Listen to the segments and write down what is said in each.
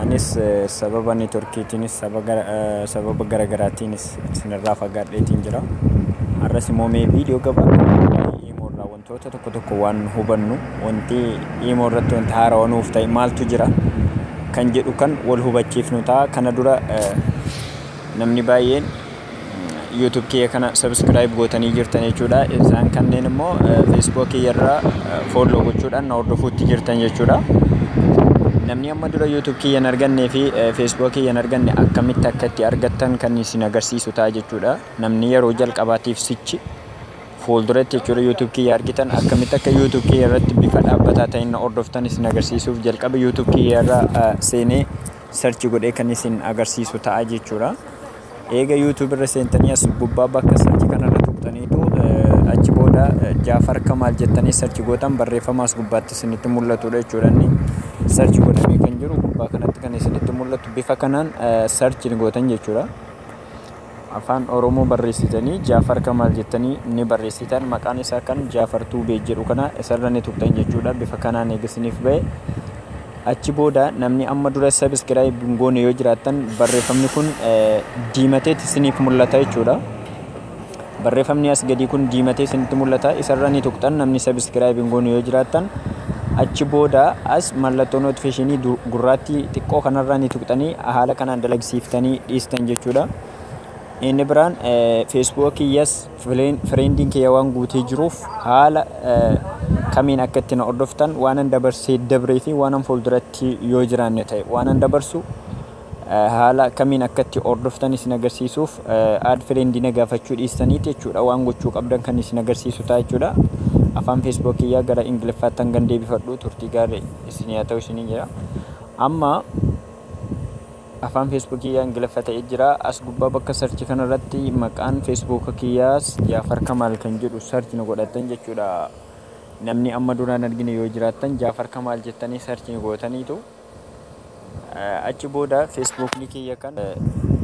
Anis sababa networkiitiinis sababa garagaraatiinis isinirraa fagaadheetiin jira. Har'as immoo mee viidiyoo gabaabaa Imo irraa wantoota tokko tokko waan hubannu wanti Imo irratti wanti haarawa nuuf ta'e maaltu jira kan jedhu kan wal hubachiifnu ta'a. Kana dura namni baay'een YouTube kiyya kana subscribe gootanii jirtan jechuudha. Isaan kanneen immoo Facebook kiyya irra follow gochuudhaan na hordofuutti jirtan jechuudha. Namni amma dura YouTube kiyya hin argannee fi Facebook kiyya hin arganne akkamitti akka itti argattan kan isin agarsiisu ta'a jechuudha. Namni yeroo jalqabaatiif sichi fuulduratti jechuudha YouTube kiyya argitan akkamitti akka YouTube kiyya irratti bifa dhaabbataa ta'een na hordoftan isin agarsiisuuf jalqaba YouTube kiyya irra seenee search godhee kan isin agarsiisu ta'a jechuudha. Eega YouTube irra seentanii as gubbaa bakka search kana irra tuqxaniitu achi booda Jaafar Kamaal jettanii search gootan barreeffama as gubbaatti isinitti mul'atudha jechuudha inni search godhamee kan jiru gubbaa kanatti kan isinitti mul'atu bifa kanaan search gootan jechuudha. Afaan Oromoo barreessitanii Jaafar Kamaal jettanii ni barreessitan maqaan isaa kan Jaafar Tuubee jedhu kana isarra ni tuqxan jechuudha bifa kanaan eega isiniif ba'e Achi booda namni amma dura subscribe hin goone yoo jiraattan barreeffamni kun diimateet isiniif mul'ata jechuudha. Barreeffamni as gadii kun diimatee isinitti mul'ata. Isarra ni tuqxan namni subscribe hin goone yoo jiraattan achi booda as mallattoo notification gurraattii xiqqoo kanarraa ni tuqxanii haala kanaan dalagsiiftanii dhiistan jechuudha. Inni biraan Facebook yes Fireendiin kiyya waan guutee jiruuf haala kamiin akka itti na hordoftan waanan dabarsee dabree fi waanan fuulduratti yoo jiraanne ta'e waanan dabarsu haala kamiin akka itti hordoftan isin agarsiisuuf aad fireendi na gaafachuu dhiistaniiti jechuudha waan gochuu qabdan kan isin agarsiisu ta'a jechuudha. Afaan feesbuuk kiyyaa gara ingiliffaatti hangan deebifadhu turtii gaarii isin yaa ta'u isiniin jedha. Amma Afaan Facebook kiyyaa Ingiliffa ta'e jira. As gubbaa bakka search kana irratti maqaan Facebook kiyyaas Jaafar Kamaal kan jedhu search ni godhattan jechuudha. Namni amma dura hin argine yoo jiraattan Jaafar Kamaal jettanii search ni gootaniitu. Achi booda Facebook ni kiyya kan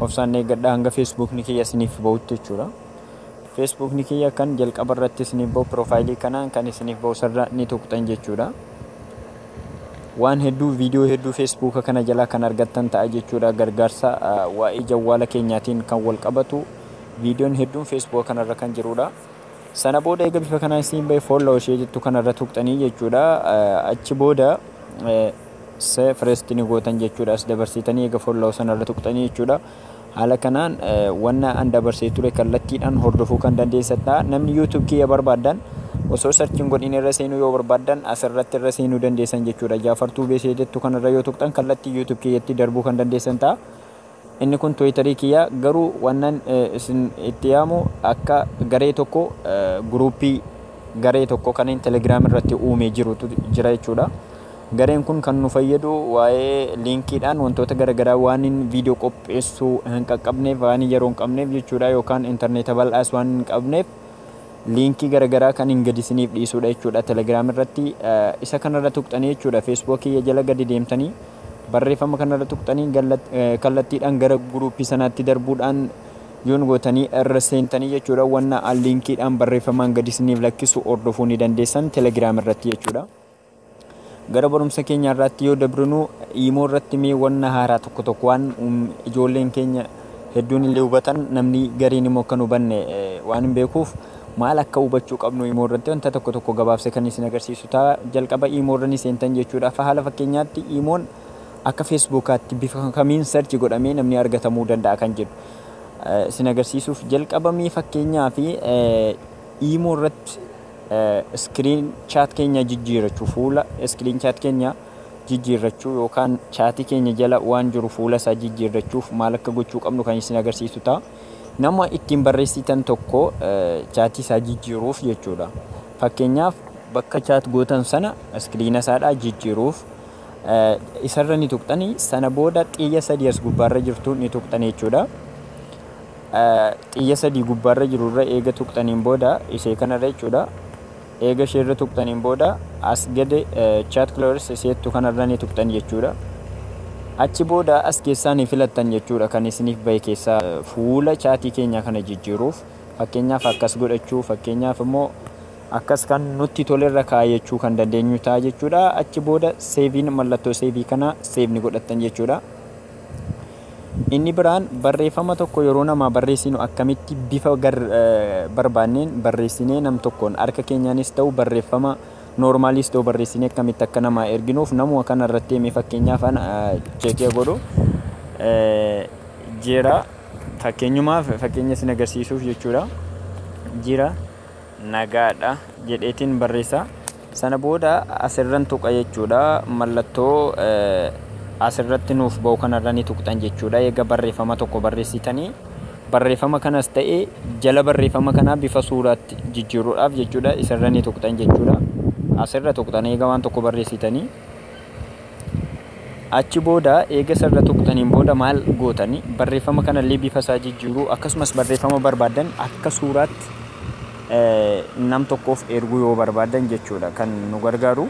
obsaan eeggadha hanga Facebook ni kiyya isiniif ba'utti jechuudha. Facebook ni kiyya kan jalqaba irratti isiniif ba'u piroofaayilii kanaan kan isiniif ba'u sarara ni tuqxan jechuudha. Waan hedduu video hedduu Facebook kana jalaa kan argattan ta'a jechuudha gargaarsa waa'ee jawwaala keenyaatiin kan wal qabatu videon hedduun Facebook kana irra kan jiruudha. Sana booda eega bifa kanaan isiin ba'e follow ishee jettu kana irra tuqxanii jechuudha achi booda se first ni gootan jechuudha as dabarsitanii eega follow sana irra tuqxanii jechuudha. Haala kanaan wanna an dabarsee ture kallattiidhaan hordofuu kan dandeessan ta'a. Namni YouTube kiyya barbaaddan osoo search hin godhin irra seenuu yoo barbaaddan asirratti irra seenuu dandeessan jechuudha. Jaafar Tuubee ishee jettu kanarra yoo tuqxan kallattii YouTube kiyyatti darbuu kan dandeessan ta'a. Inni kun Twitter kiyya garuu wannan isin itti yaamu akka garee tokko guruuppii garee tokko kan Telegram irratti uumee jirutu jira jechuudha. Gareen kun kan nu fayyadu waa'ee liinkiidhaan wantoota garagaraa waanin viidiyoo qopheessu hin qaqqabneef, waanin yeroo hin qabneef jechuudha yookaan interneeta bal'aas waan hin qabneef liinkii garagaraa kan hin gadi isiniif dhiisuudha jechuudha telegram irratti isa kanarra tuqxanii jechuudha facebook kiyya jala gadi deemtanii barreeffama kanarra tuqxanii kallattiidhaan gara guruupii sanaatti darbuudhaan yoon gootanii irra seentanii jechuudha wanna liinkiidhaan barreeffamaan gadi isiniif lakkisu hordofuu ni dandeessan telegram irratti jechuudha. Gara barumsa keenya har'aatti yoo dabrinu iimoo irratti mee wanna haaraa tokko tokko waan ijoolleen keenya hedduun illee hubatan namni gariin immoo kan hubanne waan hin beekuuf maal akka hubachuu qabnu iimoo irratti wanta tokko tokko gabaabsee kan isin agarsiisu ta'a. Jalqaba iimoo irra ni seentan jechuudha. Haala fakkeenyaatti iimoon akka feesbuukaatti bifa kamiin sarchi godhamee namni argatamuu danda'a kan jedhu isin agarsiisuuf jalqabamee fakkeenyaa fi iimoo irratti Screen chat keenya jijjiirachuu Fuula screen chat keenya jijjiirrachuu yookaan chaatii keenya jala waan jiru fuula isaa jijjiirrachuuf maal akka gochuu qabnu kan isin agarsiisu ta'a. Nama ittiin barreessitan tokko chaatii isaa jijjiiruuf jechuudha. Fakkeenyaaf bakka chaat gootan sana iskiriina isaadhaa jijjiiruuf isarra ni tuqxani sana booda xiyya sadii as gubbaarra jirtu ni tuqxani jechuudha. xiyya sadii gubbaarra jiru irra eega tuqxaniin booda isee kanarra jechuudha eega ishee irra tuqxaniin booda as gad chat clores isee jettu kanarra ni tuqxan jechuudha achi booda as keessaa ni filattan jechuudha kan isiniif bahe keessaa fuula chaatii keenyaa kana jijjiiruuf fakkeenyaaf akkas godhachuu fakkeenyaaf immoo akkas kan nutti tolerra kaayachuu kan dandeenyu ta'a jechuudha achi booda seeviin mallattoo seevii kana seevni godhattan jechuudha Inni biraan barreeffama tokko yeroo namaa barreessinu akkamitti bifa barbaanneen barreessinee nam tokkoon harka keenyaanis ta'u barreeffama noormaaliis ta'u barreessinee akkamitti akka namaa erginuuf namuma kana irratti himee fakkeenyaaf ana cheekee godhu jira fakkeenyumaaf fakkeenya isin agarsiisuuf jechuudha jira nagaadha jedheetiin barreessaa. Sana booda as irran tuqa jechuudha. Mallattoo as irratti nuuf ba'u kana irra ni tuqxan jechuudha. Eega barreefama tokko barreessitanii barreefama kanas ta'e jala barreefama kanaa bifa suuraatti jijjiiruudhaaf jechuudha isa irra ni tuqxan jechuudha. As irra tuqxan eega waan tokko barreessitanii. Achi booda eega isa irra tuqxaniin booda maal gootani barreeffama kana illee bifa isaa jijjiiruu akkasumas barreeffama barbaaddan akka suuraatti nam tokkoof erguu yoo barbaaddan jechuudha kan nu gargaaru.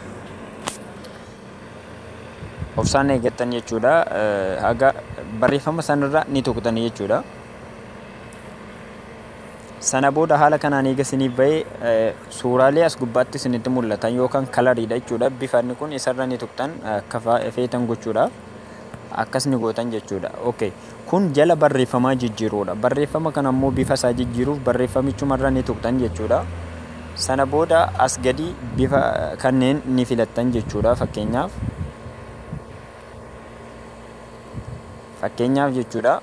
Obsaan eeggattan jechuudha haga barreeffama sanarra ni tuqxani jechuudha. Sana booda haala kanaan eega isiniif ba'e suuraalee as gubbaatti isinitti mul'atan yookaan kalariidha jechuudha. Bifa inni kun isarra ni tuqxan akka feetan gochuudhaaf akkas ni gootan jechuudha. Okay. Kun jala barreeffamaa jijjiiruudha. Barreeffama kana immoo bifa isaa jijjiiruuf barreeffamichumarra ni tuqxan jechuudha. Sana booda as gadi bifa kanneen ni filattan jechuudha fakkeenyaaf. Fakkeenyaaf jechuudha.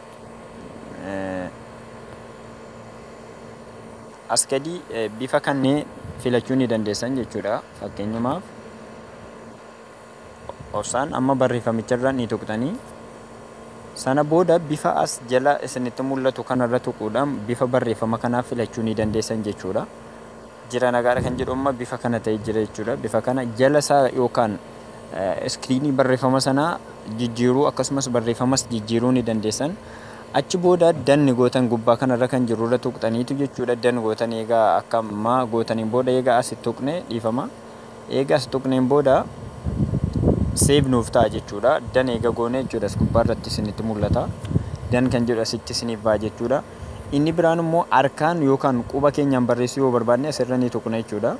as gadii bifa kannee filachuu ni dandeessan jechuudha fakkeenyumaaf obsaan amma barreeffamicharra ni tuqxanii sana booda bifa as jala isinitti mul'atu kanarra tuquudhaan bifa barreeffama kanaa filachuu ni dandeessan jechuudha jira nagaadha kan jedhu amma bifa kana ta'e jira jechuudha bifa kana jala isaa yookaan iskiriinii barreeffama sanaa jijjiiruu akkasumas barreeffamas jijjiiruu ni dandeessan. Achi booda danni gootan gubbaa kanarra kan jiru irra tuqxaniitu jechuudha dan gootan eega akka ma gootaniin booda eega as tuqne dhiifama. Eega as tuqneen booda seev nuuf ta'a jechuudha. Dan eega goone jechuudha as gubbaa irratti isinitti mul'ata. Dan kan jedhu asitti isiniif ba'a jechuudha. Inni biraan immoo harkaan yookaan quba keenyaan barreessuu yoo barbaadne asirra ni tuqna jechuudha.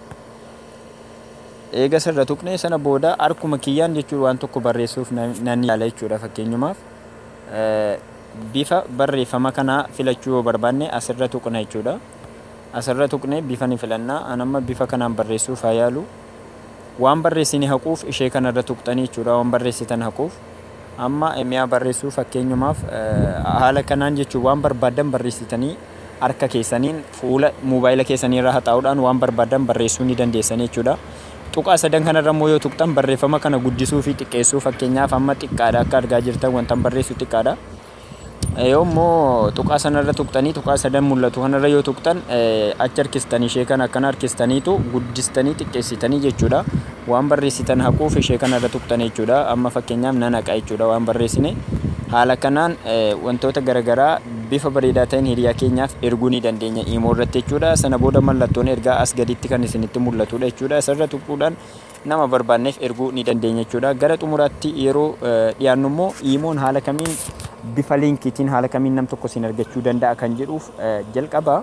Eega isa irra tuqnee sana booda harkuma kiyyaan jechuudha waan tokko barreessuuf nan yaala jechuudha fakkeenyumaaf bifa barreeffama kanaa filachuu yoo barbaanne as irra tuqna jechuudha as irra tuqnee bifa ni filanna an amma bifa kanaan barreessuuf haa yaalu waan barreessine haquuf ishee kana irra tuqxanii jechuudha waan barreessitan haquuf amma miyaa barreessuu fakkeenyumaaf haala kanaan jechuun waan barbaadan barreessitanii harka keessaniin fuula moobaayila keessanii irra haxaa'uudhaan waan barbaaddan barreessuu ni dandeessanii jechuudha. Tuqaa sadan kanarra immoo yoo tuqxan barreeffama kana guddisuu fi xiqqeessuu fakkeenyaaf amma xiqqaadha akka argaa jirtan wantan barreessu xiqqaadha. Yoo immoo tuqaa sanarra tuqxanii tuqaa sadan mul'atu kanarra yoo tuqxan achi harkistanii ishee kana akkana harkistaniitu guddistanii xiqqeessitanii jechuudha. waan barreessitan haquuf ishee kana irra tuqxan jechuudha. Amma fakkeenyaaf nan haqa jechuudha waan barreessine. Haala kanaan wantoota garaagaraa bifa bareedaa ta'een hiriyaa keenyaaf erguu ni dandeenya imoo irratti jechuudha. Sana booda mallattoon ergaa as gaditti kan isinitti mul'atudha jechuudha. Isarra tuquudhaan nama barbaanneef erguu ni dandeenya jechuudha. Gara xumuraatti yeroo dhiyaannu immoo imoon haala kamiin bifa liinkiitiin haala kamiin nam tokko isin argachuu danda'a kan jedhuuf jalqaba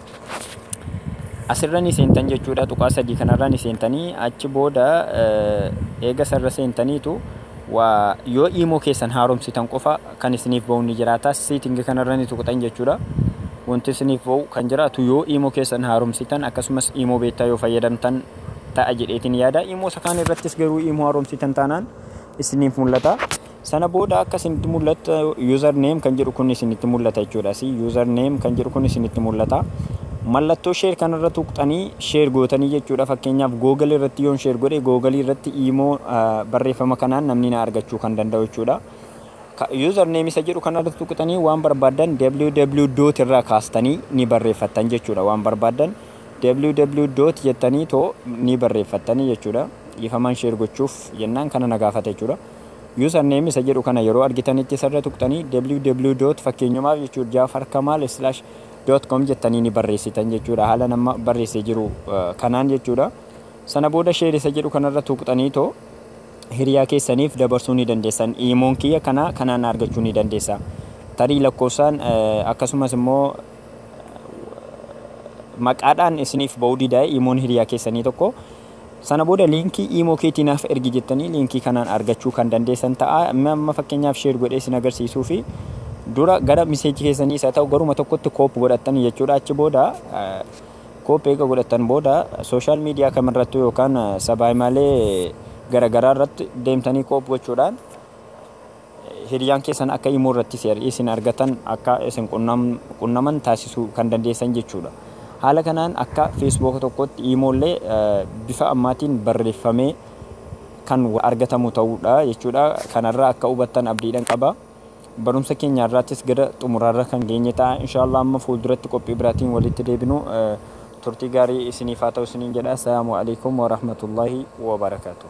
Asirra ni seentan jechuudha. Tuqaa sadii kanarra ni seentanii achi booda eega sarra seentaniitu waa yoo iimoo keessan haaromsitan qofa kan isiniif ba'u ni jiraata. Seetingi kanarra ni tuqxan jechuudha. Wanti isiniif ba'u kan jiraatu yoo iimoo keessan haaromsitan akkasumas iimoo beektaa yoo fayyadamtan ta'a jedheetiin yaada. Iimoo isa kaan irrattis garuu iimoo haaromsitan taanaan isiniif mul'ata. Sana booda akka isinitti mul'atu user name kan jedhu kun isinitti mul'ata jechuudha. Asii user name kan jedhu kun isinitti mul'ata. Mallattoo share kanarra tuqxanii share gootanii jechuudha. Fakkeenyaaf Google irratti yoon share godhe Google irratti imo barreeffama kanaan namni na argachuu kan danda'u jechuudha. User name isa jedhu kanarra tuqxanii waan barbaaddan www dot irraa kaastanii ni barreeffattan jechuudha. Waan barbaaddan www dot jettanii too ni barreeffattanii jechuudha. Dhiifamaan share gochuuf jennaan kana na gaafata jechuudha. Username isa jedhu kana yeroo argitanitti isarra tuqxanii ww dot fakkeenyumaaf jechuudha jaafarkamal slash dot com jettanii ni barreessitan jechuudha haalan amma barreessee jiru kanaan jechuudha sana booda share isa jedhu kanarra tuqxanii too hiriyaa keessaniif dabarsuu ni dandeessan iimoon kiyya kana kanaan argachuu ni dandeessa tarii lakkoofsaan akkasumas immoo maqaadhaan isiniif ba'uu didaa'e iimoon hiriyaa keessanii tokko Sana booda liinkii imo keetii naaf ergi jettanii liinkii kanaan argachuu kan dandeessan ta'a. Mee amma fakkeenyaaf share godhee isin agarsiisuufi dura gara message keessanii isa ta'u garuma tokkotti copy godhattanii jechuudha. Achi booda copy eega godhattan booda social media kamirrattuu yookaan sabaa himaalee garagaraa irratti deemtanii copy gochuudhaan Hiriyaan keessan akka imo irratti CRE isin argatan akka isin qunnaman taasisuu kan dandeessan jechuudha. Haala kanaan akka Facebook tokkootti imo illee bifa ammaatiin barreeffamee kan argatamu ta'uudha jechuudha. Kana irraa akka hubattan abdiidhan qaba. Barumsa keenya har'aattis gara xumuraarra kan geenye ta'a. Inshaallah amma fuulduratti qophii biraatiin walitti deebinu turtii gaarii isiniif haa ta'u isiniin jedha. Assalaamu Aleykum Warahmatullaahi Wabarakaatuh.